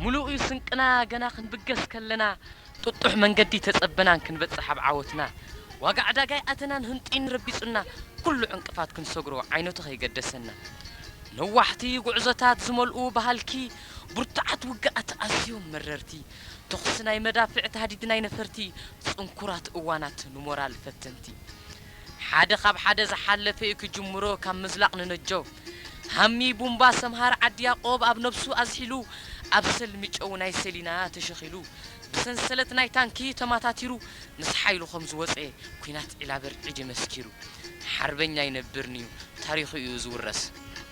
ምሉእ'ዩ ስንቅና ገና ክንብገስ ከለና ጥጡሕ መንገዲ ተጸበናን ክንበጽሕ ኣብ ዓወትና ዋጋ ዕዳጋይ ኣተናን ህንጥዩን ረቢጹና ኩሉ ዕንቅፋት ክንሰግሮ ዓይነቱ ከይገደሰና ነዋሕቲ ጉዕዞታት ዝመልኡ ብሃልኪ ብርቱዓት ውግኣት ኣዝዮም መረርቲ ተኹሲ ናይ መዳፍዕ ታህዲድ ናይ ነፈርቲ ጽንኩራት እዋናት ንሞራል ፈተንቲ ሓደ ካብ ሓደ ዝሓለፈ እዩ ክጅምሮ ካብ ምዝላቕ ንነጆ ሃሚ ቡምባ ሰምሃር ዓዲ ያቆብ ኣብ ነብሱ ኣዝሒሉ ኣብ ሰልሚ ጨው ናይ ሰሊና ተሸኺሉ ብሰንሰለት ናይ ታንኪ ተማታቲሩ ምስ ሓይሉ ከም ዝወጸ ኩናት ዒላበር ዒዲ መስኪሩ ሓርበኛ ኣይነብርንዩ ታሪኹ እዩ ዝውረስ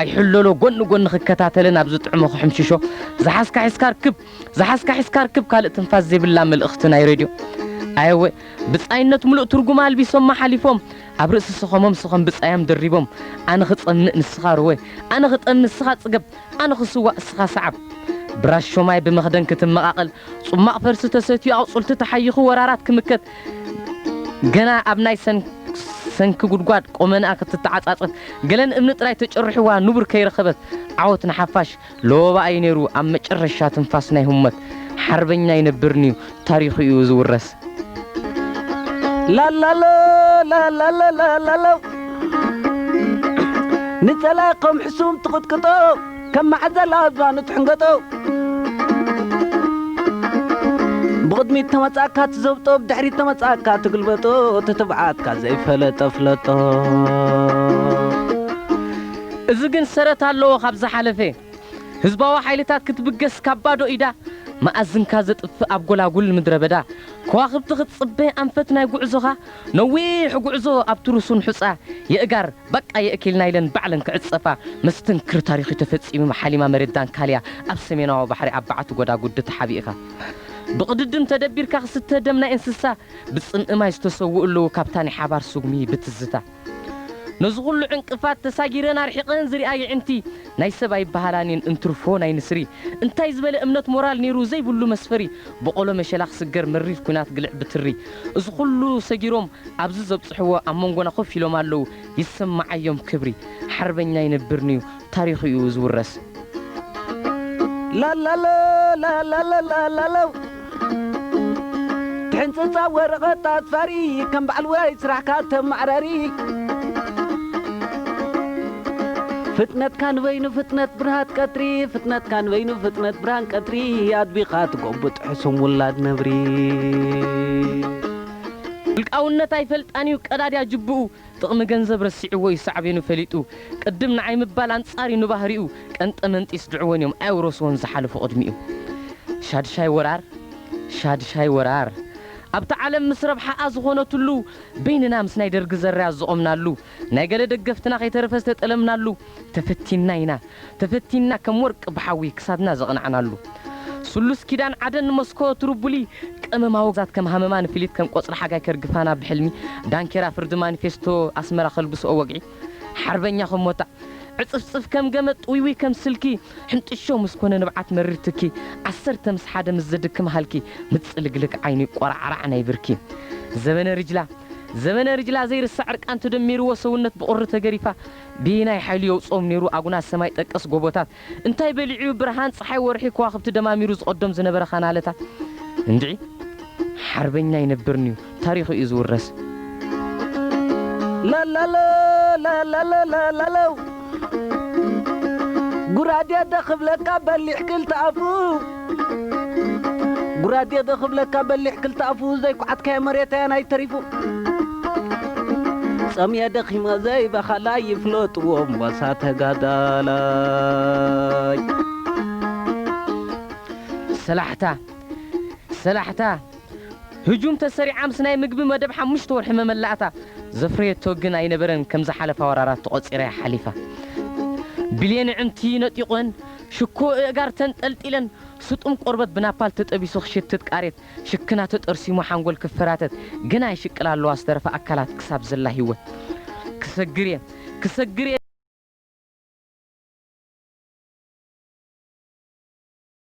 ኣይሕለሎ ጎኒ ጎኒ ክከታተልን ኣብ ዝጥዕሞ ክሕምሽሾ ዝሓዝካ ሒዝካ ርክብ ዝሓዝካ ሒዝካ ርክብ ካልእ ትንፋስ ዘይብላ መልእኽቲ ናይ ሬድዮ ኣየወ ብጻይነት ምሉእ ትርጉማ ኣልቢሶማ ሓሊፎም ኣብ ርእሲ ስኸሞም ስኸም ብጻያም ደሪቦም ኣነ ክጸምእ ንስኻ ርወ ኣነ ክጠም ንስኻ ጽገብ ኣነ ክስዋእ እስኻ ሰዓብ ብራሾማይ ብመኽደን ክትመቓቐል ጹማቕ ፈልሲ ተሰትዩ ኣቑጽልቲ ተሓይኹ ወራራት ክምከት ገና ኣብ ናይ ሰንኪ ጉድጓድ ቆመንኣ ክትተዓጻጸፍ ገለን እምኒ ጥራይ ተጨሪሑዋ ንቡር ከይረኸበት ዓወት ንሓፋሽ ለወባ ኢዩ ነይሩ ኣብ መጨረሻ ትንፋስ ናይ ሁመት ሓርበኛ ኣይነብርንዩ ታሪኹ ኢዩ ዝውረስ ላላሎ ላላሎ ላላሎ ንጸላእኮም ሕሱም ትቕጥቅጦ ከም መዓዘላ ኣእዛኑ ትሕንገጦ። ብቕድሚት ተመጻእካ ትዘብጦ ብድሕሪት ተመጻእካ ትግልበጦ እቲ ትብዓትካ ዘይፈለጠ ፍለጦ። እዚ ግን ሰረት ኣለዎ ካብ ዝሓለፈ ህዝባዊ ሓይልታት ክትብገስ ካብ ባዶ ኢዳ መኣዝንካ ዘጥፍእ ኣብ ጎላጉል ምድረበዳ ከዋኽብቲ ክትጽበ ኣንፈት ናይ ጉዕዞኻ ነዊሕ ጉዕዞ ኣብቲ ርሱን ሑጻ የእጋር በቃ የእኪልና ኢለን ባዕለን ክዕጸፋ መስተንክር ታሪኽ'ዩ ተፈጺሙ መሓሊማ መሬት ዳንካልያ ኣብ ሰሜናዊ ባሕሪ ኣብ በዓቲ ጎዳጉዲ ተሓቢእኻ ብቕድድም ተደቢርካ ክስተ ደም ናይ እንስሳ ብጽምኢ ማይ ዝተሰውኡ ኣለዉ ካብታ ናይ ሓባር ስጉሚ ብትዝታ ነዚ ኩሉ ዕንቅፋት ተሳጊረን ኣርሒቐን ዝሪኣ የዒንቲ ናይ ሰብ ኣይበሃላን እየን እንትርፎ ናይ ንስሪ እንታይ ዝበለ እምነት ሞራል ኔሩ ዘይብሉ መስፈሪ ቦቖሎ መሸላ ክስገር መሪር ኩናት ግልዕ ብትሪ እዚ ኩሉ ሰጊሮም ኣብዚ ዘብጽሕዎ ኣብ መንጎና ኮፍ ኢሎም ኣለዉ ይሰማዓዮም ክብሪ ሓርበኛ ይነብርንዩ ታሪኹዩ ዝውረስ። ላላሎ ላላላላ ላላው ትሕንጽጻ ወረቐት ኣጽፋሪ ከም በዓል ውራይ ስራሕካ ተማዕራሪ ፍጥነትካ ንበይኑ ፍጥነት ብርሃት ቀትሪ ፍጥነትካ ንበይኑ ፍጥነት ብርሃን ቀትሪ ኣድቢኻ ትጎብጥ ሕሱም ውላድ ነብሪ። ውልቃውነት ኣይፈልጣን እዩ ቀዳድያ ጅብኡ ጥቕሚ ገንዘብ ረሲዕዎ እዩ ሳዕቤኑ ፈሊጡ ቅድም ንዓይ ምባል ኣንጻር እዩ ንባህሪኡ ቀንጠመንጢ ስድዕወን እዮም ኣየውረስዎን ዝሓለፉ ቅድሚኡ ሻድሻይ ወራር ሻድሻይ ወራር ኣብታ ዓለም ምስ ረብሓኣ ዝኾነትሉ በይንና ምስ ናይ ደርጊ ዘራያት ዝቖምናሉ ናይ ገለ ደገፍትና ከይተረፈ ዝተጠለምናሉ፣ ተፈቲንና ኢና፣ ተፈቲንና ከም ወርቂ ብሓዊ ክሳድና ዘቕናዕናሉ፣ ስሉስ ኪዳን ዓደን መስኮ ትሩቡሊ፣ ቀመማ ወግዛት ከም ሃመማ ንፍሊት ከም ቆጽሊ ሓጋይ ከርግፋና ብሕልሚ፣ ዳንኬራ ፍርዲ ማኒፌስቶ ኣስመራ ከልብስኦ ወግዒ፣ ሓርበኛ ከም ሞጣ፣ ዕጽፍጽፍ ከም ገመድ ጥውይውይ ከም ስልኪ፣ ሕንጥሾ ምስ ኮነ ንብዓት መሪር ትኪ፣ ዓሰርተ ምስ ሓደ ምስ ዘድክም ሃልኪ፣ ምጽልግልግ ዓይኒ ቆራዕራዕ ናይ ብርኪ፣ ዘበነ ሪጅላ፣ ዘበነ ርጅላ ዘይርሳዕ ዕርቃን ተደሚርዎ ሰውነት ብቑሪ ተገሪፋ በየናይ ሓይሉ የውጽኦም ነይሩ ኣጉናጽ ሰማይ ጠቀስ ጎቦታት እንታይ በሊዑዩ ብርሃን ጸሓይ ወርሒ ከዋኽብቲ ደማሚሩ ዝቐዶም ዝነበረ ካናለታት እንድዒ ሓርበኛ ኣይነብርንዩ ታሪኹ እዩ ዝውረስ። ላላሎ ላላሎ ላላሎ ጉራዴ ዶ ክብለካ በሊሕ ክልተ ኣፉ ጉራዴ ዶ ክብለካ በሊሕ ክልተ ኣፉ ዘይኳዓትካዮ መሬት ኣየናይ ተሪፉ ጸምየ ደኺመ ዘይበኸላይ ይፍለጥዎ ሞሳ ተጋዳላይ ሰላሕታ ሰላሕታ ህጁም ተሰሪዓ ምስ ናይ ምግቢ መደብ ሓሙሽተ ወርሒ መመላእታ፣ ዘፍረየቶ ግን ኣይነበረን ከም ዝሓለፋ ወራራት ተቖጺራ እያ ሓሊፋ። ብሌን ኣዕንቲ ነጢቖን፣ ሽኮ እእጋር ተንጠልጢለን፣ ስጡም ቆርበት ብናፓል ተጠቢሱ ክሽትት ቃሬት ሽክና ተጠርሲሙ ሓንጎል ክፈራተት ገና ይሽቅላ ኣለዋ ዝተረፋ ኣካላት ክሳብ ዘላ ሂወት። ክሰግር እየ! ክሰግር እየ!